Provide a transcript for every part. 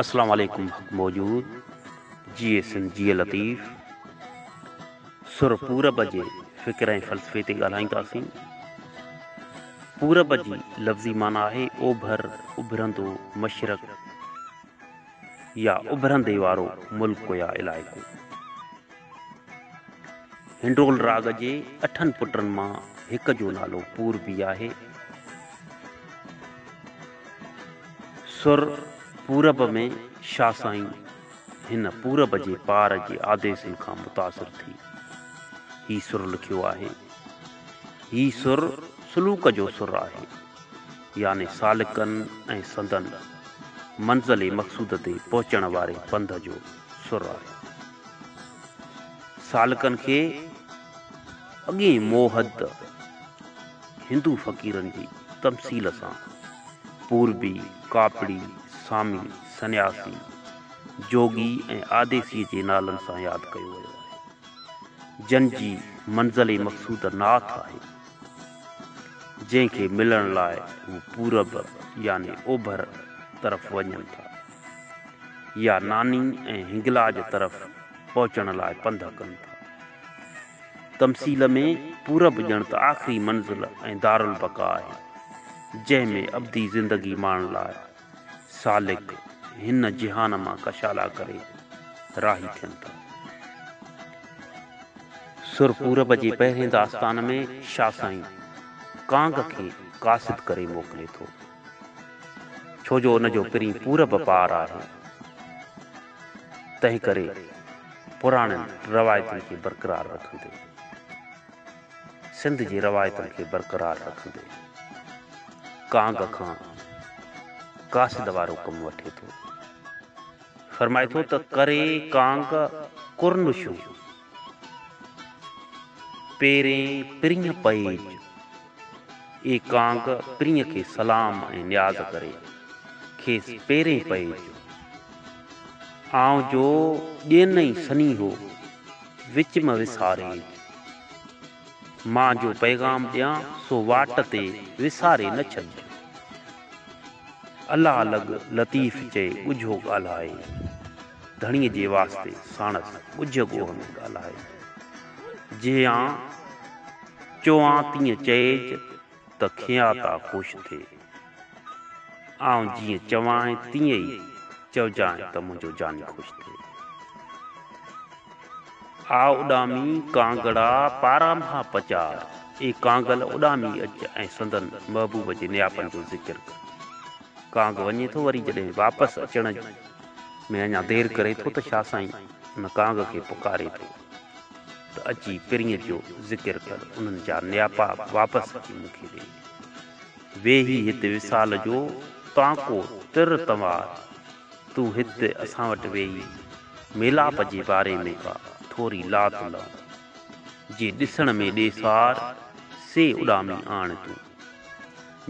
اسلام عليڪم حق موجود جيئي سنڌ جيئي لطيف سر پورب جي فڪر ۽ فلسفي تي ڳالهائينداسين پورب جي لفظي معنی آهي اوڀر اڀرندو مشرق يا اڀرندي وارو ملڪ يا علائقو هنڊول راڳ جي اٺن پٽن مان هڪ جو نالو پوربي آهي سر پورب ۾ شاھ سائين هن پورب جي پار جي آديسن کان متاثر ٿي هي سر لکيو آهي. هي سر سلوڪ جو سر آهي، يعني سالڪن ۽ سندن منزل مقصود تي پهچڻ واري پنڌ جو سر آهي. سالڪن کي اڳئين موهد، هندو فقيرن جي تمثيل سان پوربي، ڪاپڙي، سامي، سنياسي، جوڳي ۽ آديسيء جي نالن سان ياد ڪيو ويو آهي، جن جي منزل مقصوده ناٿ آهي، جنهن کي ملڻ لاء هو پورب يعني اوڀر طرف وڃن ٿا يا ناني ۽ هنگلاج طرف پهچڻ لاء پنڌ ڪن ٿا. تمثيل ۾ پورب ڄڻ ته آخري منزل ۽ دارالبقا آهي، جنهن ۾ ابدي زندگي ماڻڻ لاء سالڪ هن جهان مان ڪشالا ڪري راهي ٿين ٿا. سر پورب جي پهرين داستان ۾ شاهه سائين ڪانگ کي قاصد ڪري موڪلي ٿو، ڇو جو ان جو پرين پورب پار آهي. تنهنڪري پراڻين روايتن کي برقرار رکندي، سنڌ جي روايتن کي برقرار رکندي ڪانگ کان قاصد وارو ڪم وٺي ٿو. فرمائي ٿو ته ڪري ڪانگ ڪرنشون. پيرين پرينء پئج، اي ڪانگ پرينء کي سلام ۽ نياز ڪري، کيس پيرين پئج، آئون جو ڏينئي سنيهو وچ م وساريج، مان جو پيغام ڏيان سو واٽ تي وساري نه ڇڏج. الله لڳ لطيف چئي ڳجهو ڳالهائي. ڌڻيء جي واسطي ساڻس ڳجهه ڳوهه ۾ ڳالهائي. جيئن چوان تيئن چئيج ته کياتا خوش ٿئي. آئون جيئن چوانء تيئن ئي چئجانء ته منهنجو جاني خوش ٿئي. آء اڏامي ڪانگڙا پاران ڀا پچار، اي ڪانگل اڏامي اچ ۽ سندن محبوب جي نياپن جو ذڪر ڪر. ڪانگ وڃي ٿو وري جڏهن واپس اچڻ ۾ اڃا دير ڪري ٿو ته شاهه سائين ان ڪانگ کي پڪاري ٿو ته اچي پرينء جو ذڪر ڪر انهن جا نياپا واپس اچي مون کي ڏي. ويهي هت وصال جو تانڪو تر تنوار تون هت اسان وٽ ويهي ميلاپ جي باري ۾ ڪا ٿوري لات لئون. جي ڏسڻ ۾ ڏيسار سي اڏامي آڻ تون.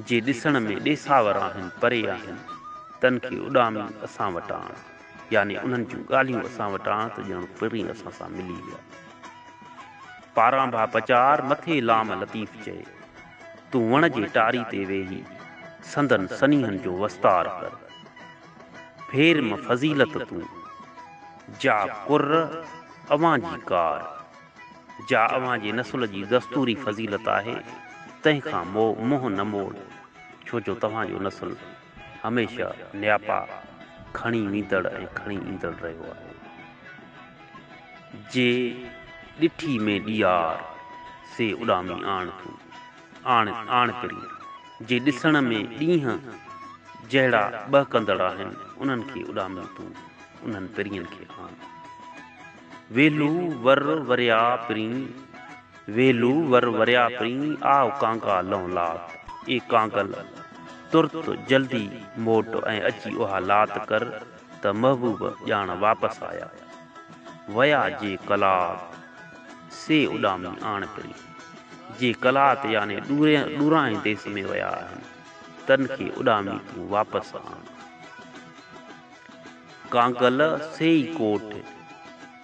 جي ڏسڻ ۾ ڏيساور آهن، پري آهن، تن کي اڏامي اسان وٽ آڻ، يعني انهن جون ڳالهيون اسان وٽ آڻ ته ڄڻ پرين اسان سان ملي ويا. پاران ڀا پچار مٿي لام لطيف چئي، تون وڻ جي ٽاري تي ويهي سندن سنيهن جو وستار ڪر. ڦير م فضيلت تون، جا ڪر اوهان جي ڪار. جا اوهان جي نسل جي دستوري فضيلت آهي، تنهن کان مئو منهن نه موڙ، ڇو جو توهان جو نسل هميشه نياپا کڻي ويندڙ ۽ کڻي ايندڙ رهيو آهي. جي ڏٺي مين ڏيار، سي اڏامي آڻ تون، آڻ، آڻ پرين، جي ڏسڻ ۾ ڏينهن جهڙا ٻهڪندڙ آهن، انهن کي اڏامي تون، انهن پرين کي آڻ. ويلو ور وريا پرين، ويلو ور وريا پرين، آء ڪانگا لئون لات، اي ڪانگل! ترت جلدي موٽ ۽ اچي اها لات ڪر ته محبوب ڄاڻ واپس آيا. ويا جي قلات، سي اڏامي آڻ پرين. جي قلات يعني ڏورانهين ديس ۾ ويا آهن، تن کي اڏامي تون واپس آڻ. ڪانگل سيئي ڪوٽ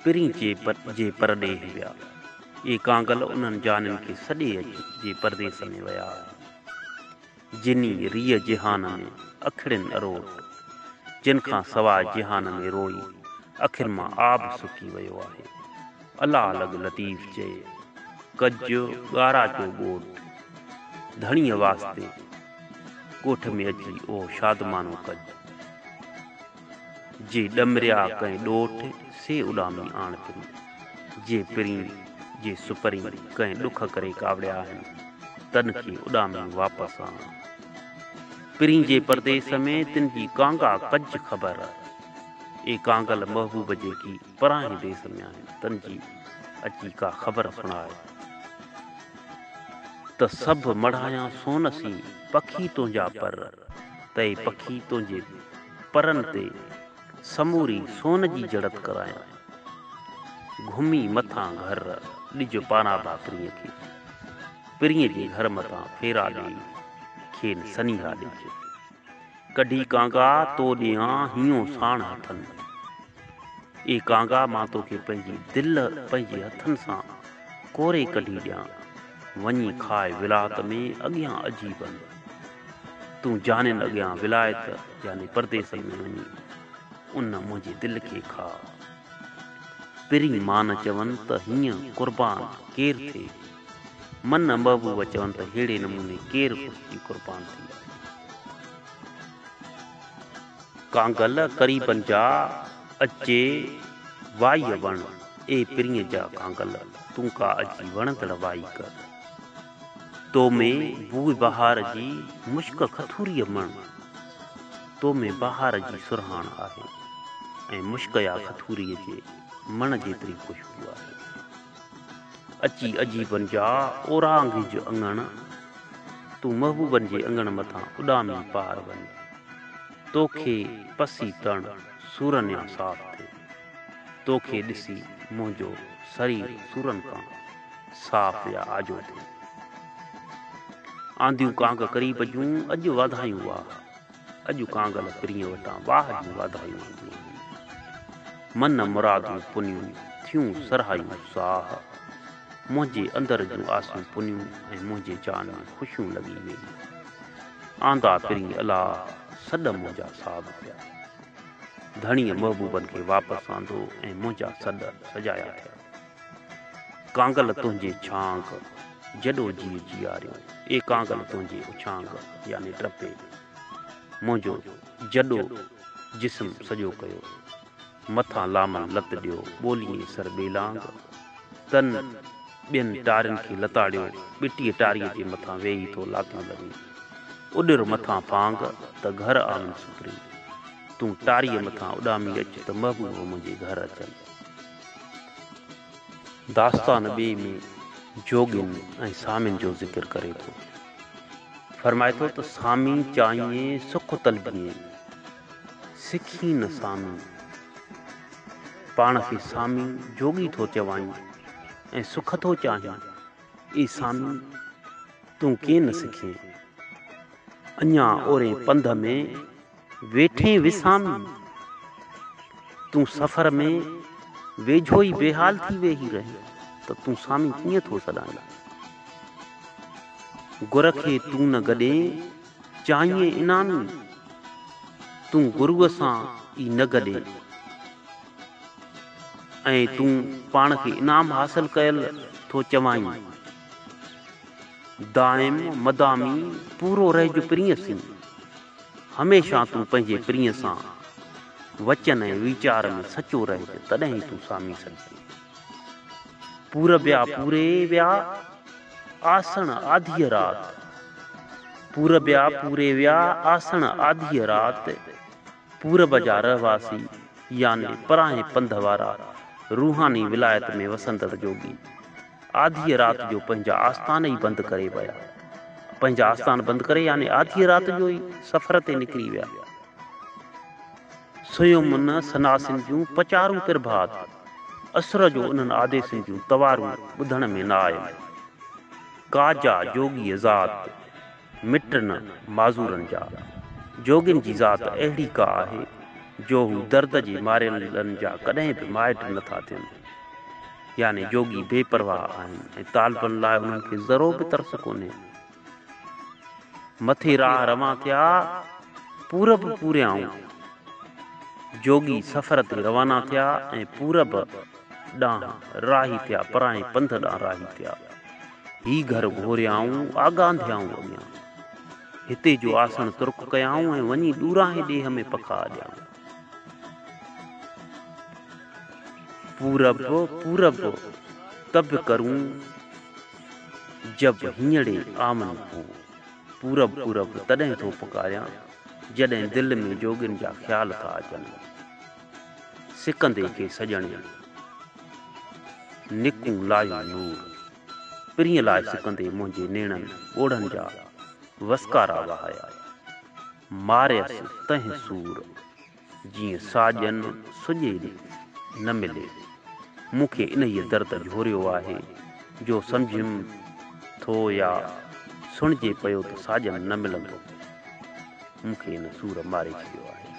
پرين چي جي پرڏيھ ويا. اھي ڪانگل انھن جانين کي سڏي اچ جي پرديس ۾ ويا آھن. جنھي ريء جهان ۾ اکڙين اروٽ، جن کان سواء جهان ۾ روئي اکين مان آب سڪي ويو آھي. الا لڳ لطيف چئي، ڪج ڳاراچو ڳوٺ، ڌڻيء واسطي. ڳوٺ ۾ اچي اهو شادمانو ڪج. جي ڏمريا ڪنهن ڏوٺ، سي اڏامي آڻ پرين. جي پرين، جي سپرين، ڪنهن ڏک ڪري ڪاوڙيا آهن، تن کي اڏامي واپس آڻ. پرين جي پرديس ۾، تن جي ڪانگا ڪج خبر. اي ڪانگل محبوب جيڪي. پرانهين ديس ۾ آهن تن جي اچي ڪا خبر سڻائي ته سڀ مڙهايان سون سين پکي تنهنجا پر تئي پکي تنهنجي پرن تي سموري سون جي جڙت ڪرايان گهمي مٿان گهر ڏج پانابا پرينء کي پرينء جي گهر مٿان ڦيرا ڏيئي کين سنيها ڏج ڪڍي ڪانگا تو ڏيان هينئون ساڻ هٿن. اي ڪانگا مان توکي پنهنجي دل پنهنجي هٿن سان ڪوري ڪڍي ڏيان. وڃي کاء ولايت ۾ اڳيان عجيبن. تون جانين اڳيان ولايت يعني پرديسن ۾ وڃي ان منهنجي دل کي کاء. پرين مان چون ته هينئن قربان ڪير ٿئي. من محبوب چون ته ههڙي نموني ڪير خوش ٿي قربان ٿي وڃي. ڪانگل قريبن جا اجي وائي وڻ اي پرينء جا ڪانگل تون ڪا اجي وڻندڙ وائي ڪر. تو ۾ بوء بهار جي مشڪ کٿوريء مڻ. تو ۾ بهار جي سرهاڻ آهي ۽ مشڪيا کٿوريء جي مڻ جيتري خوشبو آهي. اچي عجيبن جا اورانگهج اڱڻ، تون محبوبن جي اڱڻ مٿان اڏامي پار وڃ، توکي پسي تڻ سورن يا صاف ٿئي، توکي ڏسي منهنجو سرير سورن کان صاف يا آجو ٿئي. آنديون ڪانگ قريب جون، اڄ واڌايون واهه. اڄ ڪانگل پرينء وٽان واهه جون واڌايون آنديون هيون. من مرادون پنيون ٿيون سرهايون ساهه. منهنجي اندر جون آسون پنيون ۽ منهنجي جان ۾ خوشيون لڳي ويئي. آندا پرينء الاهه سڏ منهنجا صاب ٿيا. ڌڻيء محبوبن کي واپس آندو ۽ منهنجا سڏ سجايا ٿيا. ڪانگل تنهنجي ڇانگ جڏو جيء جياريو اي ڪانگل تنهنجي اڇانگ يعني ٽپي منهنجو جڏو جسم سڄو ڪيو مٿان لامن لت ڏيو ٻوليين سر ٻيلانگ تن ٻين ٽارين کي لتاڙيو ٻٽيء ٽاريء جي مٿان ويهي ٿو لاتيون لڳي اڏر مٿان ڦانگ ته گهر آون سوپري تون ٽاريء مٿان اڏامي اچ ته محبوب منهنجي گهر اچن. داستان ٻئي ۾ جوڳين ۽ سامين جو ذڪر ڪري ٿو. فرمائي ٿو ته سامي چائين سک طلبيين، سکين نه سامي. پاڻ کي سامي جوڳي ٿو چوائين ۽ سک ٿو چاهين، اي سامي تون ڪين سکين. اڃا اورين پنڌ ۾. ويٺين وسامي، تون سفر ۾ ويجهو ئي بيحال ٿي ويهي رهين ته تون سامي ڪيئن ٿو سڏائين. گر کي تون نه گڏين، چاهين انعامي، تون گروء سان ئي نه گڏين ۽ تون پاڻ کي انعام حاصل ڪيل ٿو چوائين. دائم مدامي پورو رهج پرينء سين. هميشه تون پنهنجي پرينء سان وچن ۽ ويچار ۾ سچو رهج تڏهن ئي تون سامي سگهجين. پورٻيا پوري ويا آسڻ آڌيء رات پورٻيا پوري ويا آسڻ آڌيء رات پورب جا رهواسي يعني پراهين پنڌ وارا روحاني ولايت ۾ وسندڙ جوڳي آڌيء رات جو پنهنجا آستان ئي بند ڪري ويا. پنهنجا آستان بند ڪري يعني آڌيء رات جو ئي سفر تي نڪري ويا. سيومن سناسين جون پچارون پرڀات، اسر جو انهن آديسين جون توارون ٻڌڻ ۾ نه آيون. ڪاجا جوڳيء ذات. مٽ نه معذورن جا، جوڳين جي ذات اهڙي ڪا آهي، جو هو درد جي ماريلن جا ڪڏهن به مائٽ نه ٿا ٿين. يعني جوڳي بي پرواهه آهن ۽ طالبن لاء انهن کي ذرو به ترس ڪونهي. مٿي راهه روان ٿيا، پورب پوريائون جوڳي سفر تي روانا ٿيا ۽ پورب ڏانهن راهي ٿيا، پرانهين پنڌ ڏانهن راهي ٿيا. هي گهر گهوريائون، آڳانڌيائون اڳيان. هتي جو آسڻ ترڪ ڪيائون ۽ وڃي ڏوراهين ڏيهه ۾ پکا اڏيائون. پورب، پورب، ته به ڪرون جب هينئڙي آون هو. پورب، پورب، تڏهن ٿو پڪاريان، جڏهن دل ۾ جوڳين جا خيال ٿا اچن. سڪندي ڪي سڄڻيء، نڪون لايون نور. پرينء لاء سڪندي منهنجي نيڻن ڳوڙهن جا وسڪارا وهايا. ماريس تنهن سور، جيئن ساڄن سڄي نه ملي. مون کي انهيء درد جهوريو آهي، جو سمجهيم ٿو يا سڻجي پيو ته ساڄن نه ملندو. مون کي ان سور ماري ڇڏيو آهي.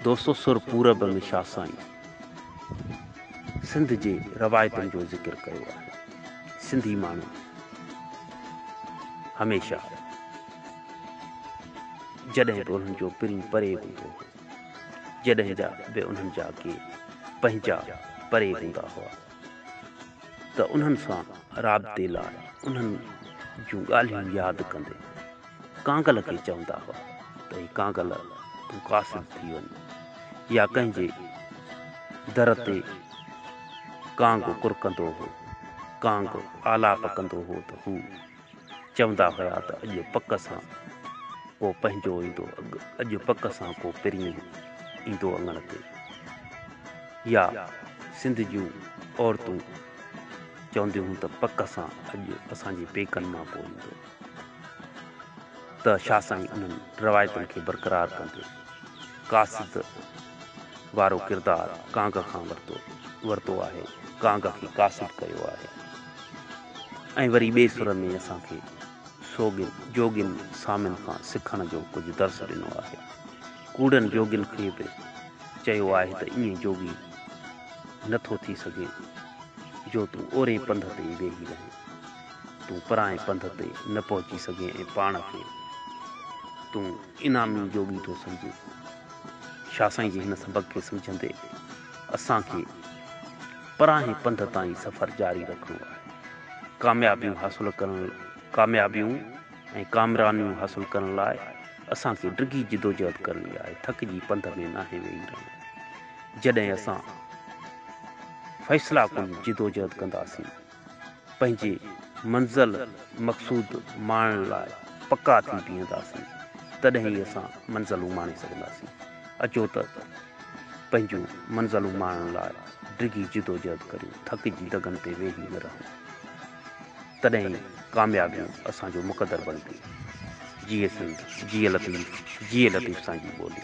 دوستو سر پورب ۾ شاھ سائين سنڌ جي روايتن جو ذڪر ڪيو آهي سنڌي ماڻهو هميشه جڏهن به انهن جو پرين پري هوندو هو جڏهن جا به انهن جا ڪي پنهنجا پري هوندا هئا ته انهن سان رابطي لاء انهن جون ڳالهيون ياد ڪندي ڪانگل کي چوندا هئا ته اي ڪانگل تون قاصد ٿي وڃ يا ڪنهن جي در تي ڪانگ ڪرڪندو هو ڪانگ آلاپ ڪندو هو ته هو چوندا هيا ته اڄ پڪ سان ڪو پنهنجو ايندو اڄ پڪ سان ڪو پرين ايندو اڱڻ تي يا سنڌ جون عورتون چونديون هيون ته پڪ سان اڄ اسان جي پيڪن مان ڪو ايندو ته شاهه سائين انهن روايتن کي برقرار ڪندي قاصد وارو ڪردار ڪانگ کان ورتو ورتو آهي، ڪانگ کي قاصد ڪيو آهي ۽ وري ٻئي سر ۾ اسان کي سوڳين جوڳين سامين کان سکڻ جو ڪجهه درس ڏنو آهي. ڪوڙن جوڳين کي به چيو آهي ته ائين جوڳي نه ٿو ٿي سگهين جو تون اوري پنڌ تي ئي ويهي رهين. تون پرائين پنڌ تي نه پهچي سگهين ۽ پاڻ کي تون انعامي جوڳي ٿو سمجهين. شاهه سائين جي هن سبق کي سمجهندي اسان کي پرائين پنڌ تائين سفر جاري رکڻو آهي. ڪاميابيون حاصل ڪرڻ ڪاميابيون ۽ ڪامرانيون حاصل ڪرڻ لاء اسان کي ڊگهي جدوجهد ڪرڻي آهي. ٿڪجي پنڌ ۾ ناهي ويهي رهڻو. جڏهن اسان فيصلاڪن جدوجهد ڪنداسين. پنهنجي منزل مقصود ماڻڻ لاء پڪا ٿي بيهنداسين تڏهن ئي اسان منزلون ماڻي سگهنداسين. اچو ته پنهنجون منزلون ماڻڻ لاء ڊگهي جدوجهد ڪريون، ٿڪ جي دڳن تي ويهي نه رهون. تڏهن ئي ڪاميابيون اسان جو مقدر بڻبيون. جيئي سنڌ، جيئي لطيف، جيئي لطيف سان جي ٻولي.